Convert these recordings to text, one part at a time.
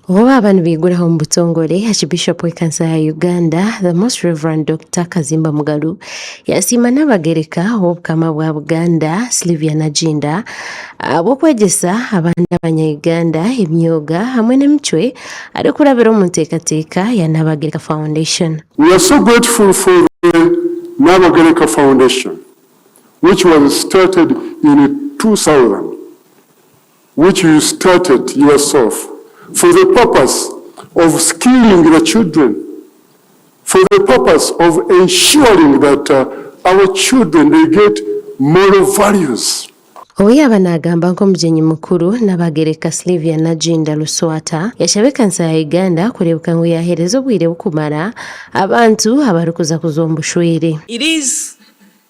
Obu baaba nibaiguraho omu butongore, Archbishop w'ekanisa ya Uganda, The Most Rev. Doctor Kazimba Mugalu, yasiima Naabagereka w'Obukama bwa Buganda, Slyvia Nagginda, ahabw'okwegyesa abandi abanya Uganda eby'oga hamwe n'emicwe arikurabira omu nteekateeka ya Naabagereka Foundation. We are so grateful for the Nabagereka Foundation which was started in two thousand which you started yourself for the purpose of skilling the children, for the purpose of ensuring that our children they get moral values. Obu yaaba naagamba nk'omugyenyi mukuru, Nabagereka Slyvia Naginda Luswata yashaba ekanisa ya Uganda kureebeka ngu yaaheereza obwire bukumara abantu abarikuza kuzwa omu bushwere. It is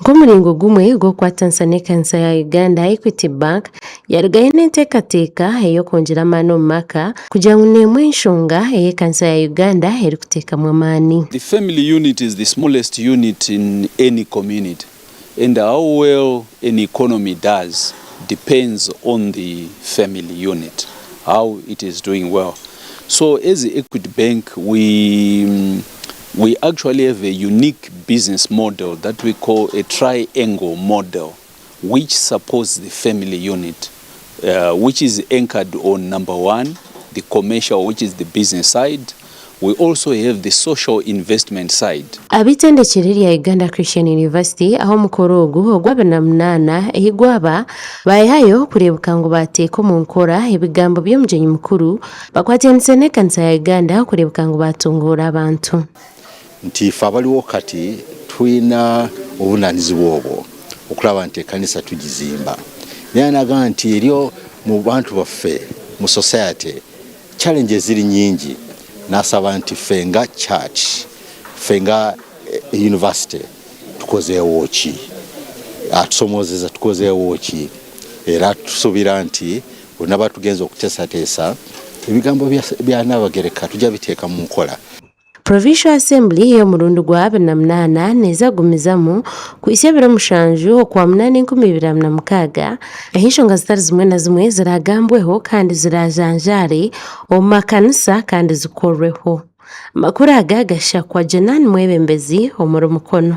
Nk'omuringo gumwe gw'okukwatanisa n'ekanisa ya Uganda, Equity Bank yarugayo n'enteekateeka ey'okwongyera amaani omu maka kugira ngu n'emwe enshonga ei ekanisa ya Uganda erikuteekamu amaani. The family unit is the smallest unit in any community and how well an economy does depends on the family unit how it is doing well so as Equity Bank we We actually have a unique business model that we call a triangle model which supports the family unit which is anchored on number one the commercial which is the business side we also have the social investment side. Ab'eitendekero rya Uganda Christian University ahu omukoro ogu ogwa abiri na munaana ahi gwaba, baayehayo kureebuka ngu baateeka omu nkora ebigambo by'omugyenyi mukuru, Bakwatyanise n'ekanisa ya Uganda kureebeka ngu baatunguura abantu. Nti ife abariho kati twine obuvunanizibwa obwo okuraba nti ekanisa tugizimba. Yaaba nagamba nti eriyo mu bantu baffe mu society challenges ziri nyingi nasaba nti ife nga church ife nga university tukozeewo ki? Atusomozeza tukozeewo ki? Era tusubira nti Boona baatugyenza okuteesateesa, ebigambo bya Naabagereka tugya biteeka mu nkora. Provincial Assembly ey'omurundi gwa abiri na munaana neeza kugumizamu kuhitsya ebiro mushanju Okwamunaana enkumi ibiri abiri na mukaaga, ahu enshonga zitari zimwe na zimwe ziraagambweho kandi ziraajanjaare omu makanisa kandi zikorweho. Amakuru aga gashakwa Jenan Mwebembezi omuri Mukono.